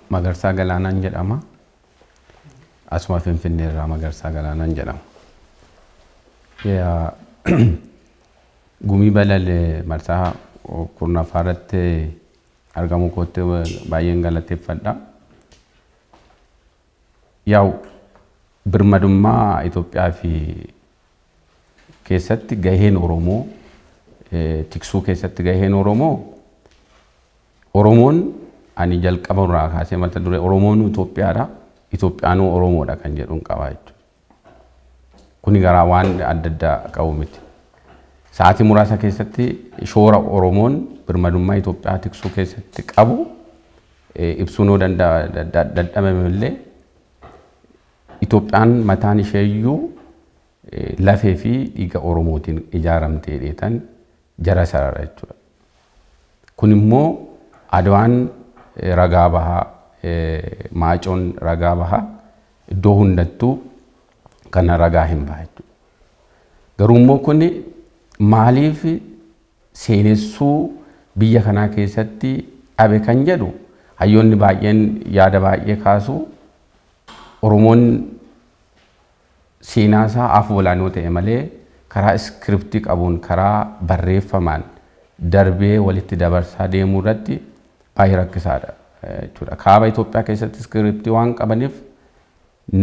Magarsaa Galaanaan jedhama. Asuma Finfinnee irraa Magarsaa Galaanaan jedhama. Yaa- Gumii balale marsaa kurnaffaa irratti argamuu kootti baay'een galateeffadha. Yaa'u birmadummaa Itoophiyaa fi keessatti gaheen Oromoo tiksuu keessatti gaheen Oromoo Oromoon ani jalqaba irraa kaasee mata duree Oromoon Itoophiyaadha Itoophiyaanuu Oromoodha kan jedhuun qabaa jechuudha. Kuni garaa waan adda addaa qabu miti. Sa'aatii muraasa keessatti shoora Oromoon birmadummaa Itoophiyaa tiksuu keessatti qabu ibsuun yoo dadhabame illee Itoophiyaan mataan ishee iyyuu lafee fi dhiiga Oromootiin ijaaramte jedheetan jara sarara jechuudha. Kun immoo Adwaan ragaa baha, Maacoon ragaa baha, iddoo hundattuu kana ragaa hin baha jechuudha. Garuu immoo kun maaliif seenessuu biyya kanaa keessatti dhabe kan jedhu hayyoonni baay'een yaada baay'ee kaasu. Oromoon seenaa isaa afoolaan yoo ta'e malee karaa iskiriptii qabuun karaa barreeffamaan darbee walitti dabarsaa deemuu irratti baay'ee rakkisaadha jechuudha. Kaaba Itoophiyaa keessatti iskiriptii waan qabaniif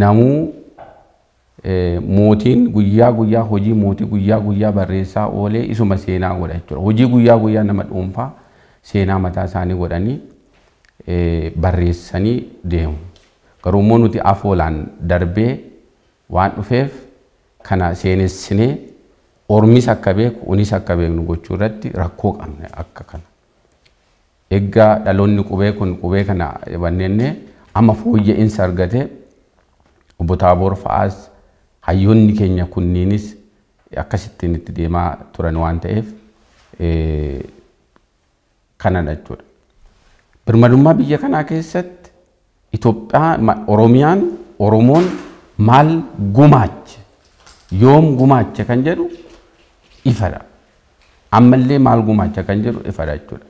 namuu Mootiin guyyaa guyyaa hojii mootii guyyaa guyyaa barreessaa oolee isuma seenaa godha jechuudha. Hojii guyyaa guyyaa nama dhuunfaa seenaa mataa isaanii godhanii barreessanii deemu. Garuu immoo nuti afoolaan darbee waan dhufeef kana seenessinee ormis akka beeku unis akka beeknu gochuu irratti rakkoo qabna akka kana. Egga dhaloonni qubee kun qubee kana banneenne amma fooyya'insa argate Obbo Taaboor fa'aas hayyoonni keenya kunniinis akkasittiin itti deemaa turan waan ta'eef kanadha jechuudha. Birmadummaa biyya kanaa keessatti Itoophiyaa, Oromiyaan, Oromoon maal gumaache, yoom gumaache kan jedhu ifadha. Ammallee maal gumaacha kan jedhu ifadha jechuudha.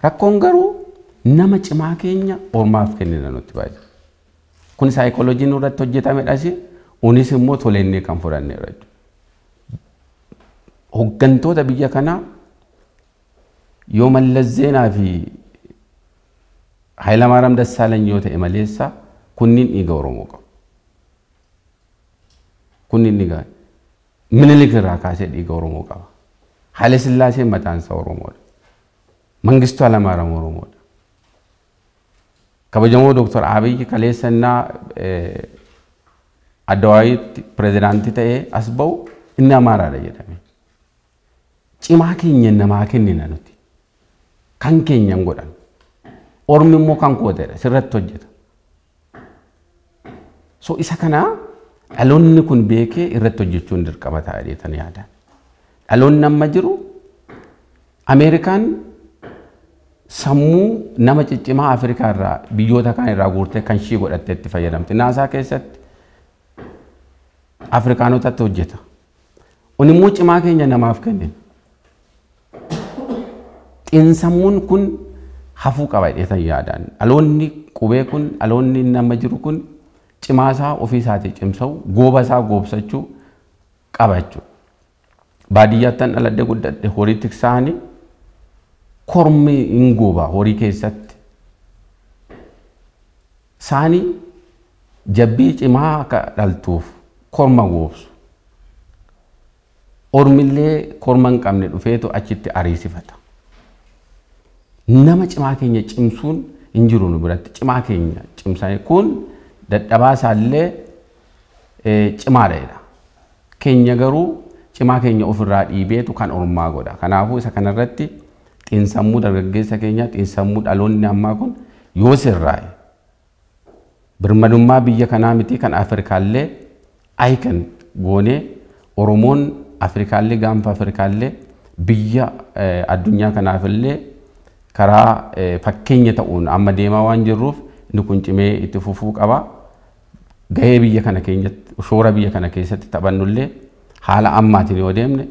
Rakkoon garuu nama cimaa keenya ormaaf kennina nutti baay'ee. Kun saayikooloojii nurratti hojjetamedhas, unis immoo tolennee kan fudhanneedha jechuudha. Hoggantoota biyya kanaa yoo Mallas Zeenaa fi Haylamaaram Dassaalany yoo ta'e maleessa kunniin dhiiga Oromoo qabu. Kunniin dhiiga Minilik irraa kaasee dhiiga Oromoo qaba. Haile Sillaaseen mataan isaa Oromoodha. Mangistuu Halamaaram Oromoodha. Kabajamoo Dooktar Abiyyi kaleessa innaa Addawaayitti pirezidaantii ta'ee as ba'u inni Amaaraadha jedhame. Cimaa keenya namaa kennina nuti. Kan keenya hin godhan. Ormi immoo kan koo jedha sirratti hojjeta. So isa kana dhaloonni kun beekee irratti hojjechuun dirqama ta'a jeetan yaada. Dhaloonni amma jiru Ameerikaan sammuu nama ciccimaa Afrikaa irraa biyyoota kaan irraa guurtee kan ishii godhattee itti fayyadamti. Naasaa keessatti Afrikaanotatti hojjeta. Onimmoo cimaa keenya namaaf kennina. Xinsammuun kun hafuu qaba jedheetan yaadaan. Dhaloonni qubee kun dhaloonni nama jiru kun cimaa isaa ofii isaatii cimsa'u gooba isaa goobsachuu qaba jechuudha. Baadiyyaattan dhaladhe guddadhe horii tiksaanii kormi hin gooba horii keessatti. Saanii Jabbii cimaa akka dhaltuuf korma goobsu. Ormillee korma hin qabne dhufeetu achitti ariisifata. Nama cimaa keenya cimsuun hin jiru nu biratti. Cimaa keenya cimsanii kun dadhabaa isaallee cimaadha jedha. Keenya garuu cimaa keenya ofirraa dhiibeetu kan ormaa godha. Kanaafuu isa kanarratti xiinsammuu dargaggeessa keenyaa xiinsammuu dhaloonni ammaa kun yoo sirraa'e Birmadummaa biyya kanaa mitii kan Afrikaallee icon goonee Oromoon Afrikaallee gaanfa Afrikaallee biyya addunyaa kanaafillee karaa fakkeenya ta'uun amma deemaa waan jirruuf inni kun cimee itti fufuu qaba. Gahee biyya kana keenyatti shoora biyya kana keessatti taphannullee haala ammaatiin yoo deemne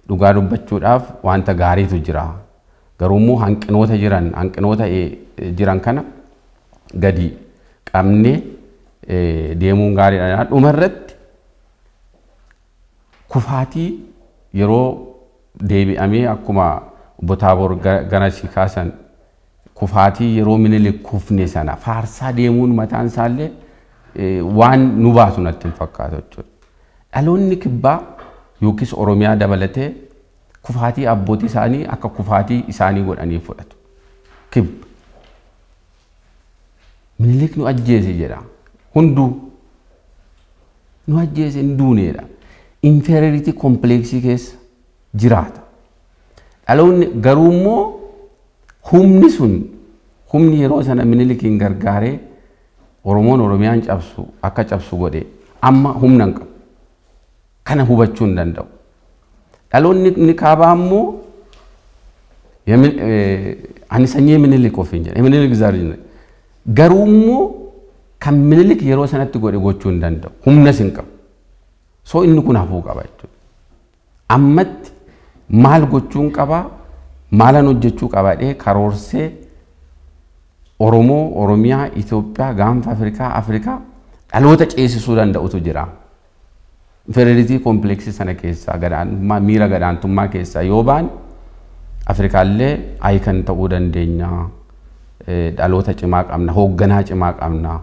Dhugaa dubbachuudhaaf wanta gaariitu jira. Garuummoo hanqinoota jiran hanqinoota jiran kana gadi qabnee deemuun gaariidha. Dhuma irratti kufaatii yeroo deebi'amee akkuma Obbo Taaboor ganasii kaasan Kufaatii yeroo Minilik kufne sana faarsaa deemuun mataan isaallee waan nu baasu natti hin fakkaatu jechuudha. Dhaloonni kibbaa yookiis Oromiyaa dabalatee kufaatii abbootii isaanii akka kufaatii isaanii godhanii fudhatu. Kibba. Minilik nu ajjeese jedha. Hunduu nu ajjeese hin duuneedha. Inferiority complex keessa jiraata. Dhaloonni garuu immoo humni sun humni yeroo sana Minilikiin gargaaree Oromoon Oromiyaan cabsu akka cabsu godhe amma humna hin qabu. Kana hubachuu hin danda'u. Dhaloonni inni kaabaa immoo ani sanyii Minilik ofiin jedha. Minilik zaariin garuu immoo kan Minilik yeroo sanatti godhe gochuu hin danda'u. Humnas hin qabu. So inni kun hafuu qaba jechuudha. Ammatti maal gochuun qaba, maalan hojjechuu qaba jedhee karoorsee Oromoo, Oromiyaa, Itoophiyaa, Gaanfa Afrikaa, Afrikaa dhaloota ceesisuu danda'utu jira. Inferiority complex sana keessaa gadaantummaa miira gadaantummaa keessaa yoo baane Afrikaallee icon ta'uu dandeenya. dhaloota cimaa qabna, hoogganaa cimaa qabna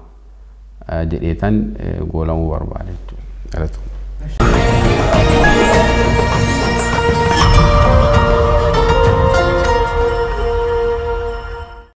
jedheetan goolamuu barbaada jechuudha.